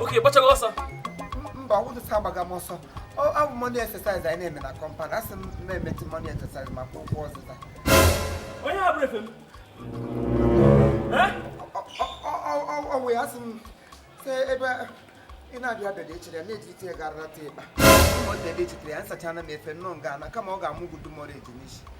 oke gbachaghị ọsọ mba ọgwụdụsa agbaghị m ọsọ ọ bụ morning exercise anyị na-eme na compound asị m na-emetụ morning exercise maka ụkwụ ọzụza onye ha bụrụ efe m ọ wụ ya asị m sị ebe ị na-abịa abịa dị echere ya na-ejirite ya garara ta ịkpa ọ dị ebe echetere ya nsachana m efe nnọọ nga ana kama ọ ga-amụ gudu mọrọ eji n'isi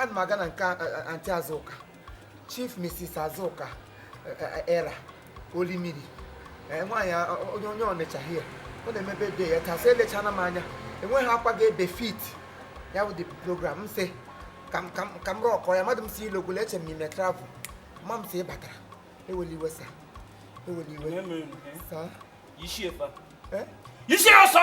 ana m aga na nke aunty azụka chief mrs azụka era orimiri nwaanyị onye onye ọnịcha hie ọ na-eme birthday ya taa sị elechana m anya enweghị akwa ga-befit ya wụdị program m sị ka m rock ya mmadụ m si ilogolo eche m i me travel ma m si ị batara ewela iwe sa ewela iwe sa yishie ọsọ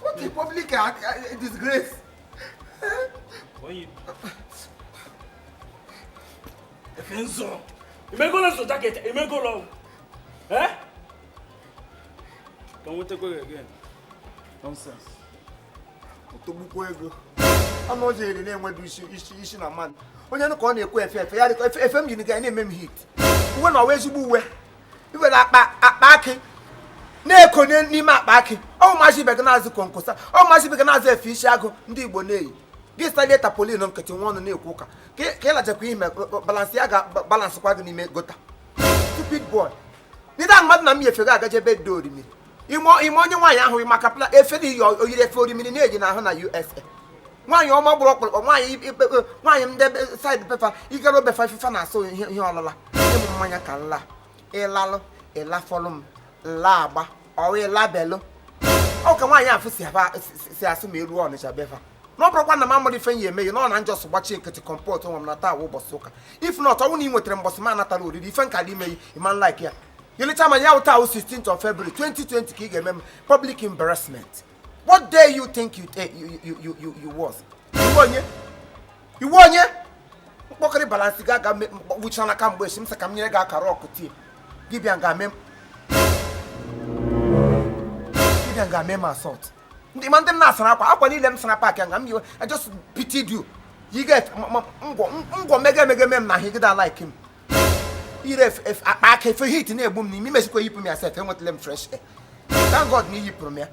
What a public uh, uh, disgrace. When you... Kenzo, you may go to the jacket, you may go long. Eh? Can we take away again? Nonsense. Otogbukwu ego. Ama o jere na-enwedu isi isi isi na mmadụ. Onye nụ ka ọ na-ekwu efe efe ya efe m yi na-eme m heat. Uwe na-awụghị ezigbo uwe. i were akpa akpa akị na-ekonye n'ime akpa akị ọ wụ ụmụazị ibe gị na-azụ konkosa ọ wụ ụmụazị ibe gị na-azụ efe isi agụ ndị igbo na-eyi gị salie tarpaulin nkịtị nwee ọnụ na-ekwu ụka ka ị lachakwa ime balenciaga abalance kwa gị n'ime gota stupid boy ndị ahụ mmadụ na m yi efe gị agaje birthday orimiri ị ma ị ma onye nwaanyị ahụ maka pla efe na iyi oyiri efe orimiri na-eji n'ahụ na usa nwaanyị ọma gbụrụ ọkpụrụkpụ nwaanyị ikpe nwaanyị ndị side be fa ị gara be fa ife fa na-asụ ihe ihe ọlụla ịla mmanya ka nla ị lalụ ị lafọlụ m nla agba ọwa ịlabelụ ọ ka nwaanyị afụ si aba- si- si- si asụ ma e ruo ọnịcha be fa na ọ bụrụkwa na m amara ife ya emeghe na ọ na m just gbachie nkịtị comport onwe m na taa wụ ụbọchị ụka if not ọ wụ na ị nwetara mbọsị m natara oriri ife nke a dị imeghị ị ma like ya You later man, ya wụ taa 16th of February 2020 ka ị ga-eme m public embarrassment. What day you think you take you you you you, you was? Ị wụ onye? Ị wụ onye? Mkpọkịrị Balenciaga ga-agwụcha n'aka mgbe echi m sị ka m nyere gị akara ọkụ tie. Gị bịa nga mee Gị bịa nga mee m assault. Ndị ma ndị m na-asara akwa akwa niile m sara pack nga m yiwe I just pitied you. You get ngwọ ngwọ mege mege mee m na higida like him. ire akpa akị efe heat na-egbu m n'ime i mechikwa yipụ m ya sef enwetala m fresh air thank God na i yipụrụ m ya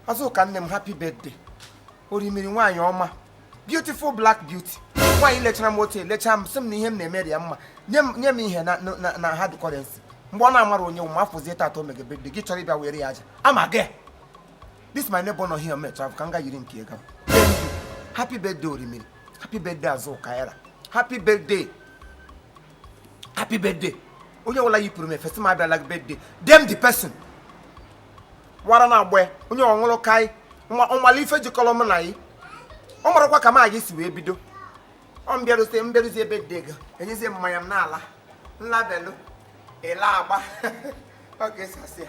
azụka nne m happy birthday orimiri nwaanyị ọma beautiful black beauty nwaanyị lechara m otu elecha m sị m na ihe m na-emere ya mma nye m ihe na hard currency mgbe ọ na-amara onye nwe m afọzie tata o mege birthday gị chọrọ ịbịa were ya aja ama gị this my neighbor nọ here mecha ka m ga yiri nke ego happy birthday orimiri happy birthday azụka happy birthday happy birthday onye ọbụla yipụrụ m efesi m abịala birthday dem the person wara na agba onye ọ wụrụ kai ọ mala ife jikọlọ m na yi ọ marakwa ka m ga-esi wee bido ọ m bịaruzie m bịaruzie birthday enyezie mmanya m n'ala nlabelụ ele agba ọ ga-esi asị ya